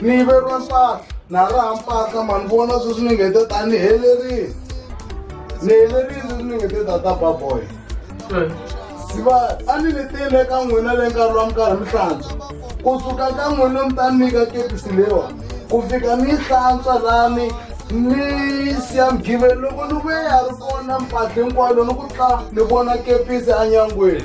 ni yiveriwa mpahla na raha mpahla mani vona sweswi ni nge te ta ni helerile ni helerile sweswi ni nge te ta ta baboy siva a ni ni tile ka n'wina le nkarhi wa minkarhi mi hlantswa ku suka ka n'wina mi ta nyika kepisi lewa ku fika ni hlantswa lani ni siya mgiveni loko ni vuye ya ri kona mpahla hinkwayo loko ku tla ni vona kepisi enyangweni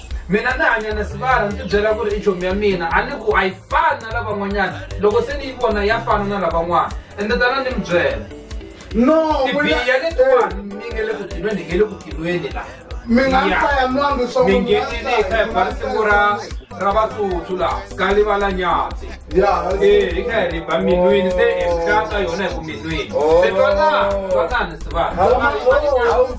mina ni hanya na sivara ni tibyela ku ri i chomi ya mina a ni ku a yi fani na lavan'wanyana loko se ni yi vona ya fana na lavan'wana ende tana ni mi byela no tibiya letiwani eh. mi nge le ku tilweni hi nge le ku tilweni la mi nga hlaya mwangi swa mi ngenile hi kha hi bala siku ra ra vatsutsu laha ka livala nyatsi eh, hi kha hi riba minwini se hi hlata yona hi ku minwini se twanani twanani sivana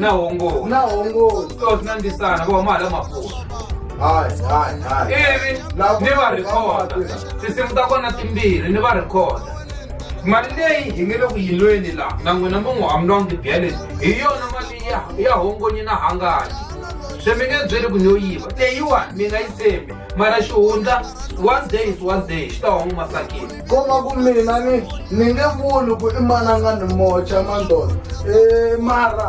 na hongo na hongo so sina ndisana vo huma hala mapfuna hai hai hai ivi Laha ku- ni va rhikhoda tinsimu ta kona timbirhi ni va rhikhoda mali leyi hi nge le ku yilweni laha na n'wina mi n'wi hamulwangi tibyeleni hi yona mali ya ya hongonyi na hangayi swi mi nge byeli ku ni yo yiva leyiwani mi nga yi tshembi mara xihundla one day is one day xi ta huma masakeni ko va ku mina ni ni nge vuli ku i mananga ni mocha mandolo e mara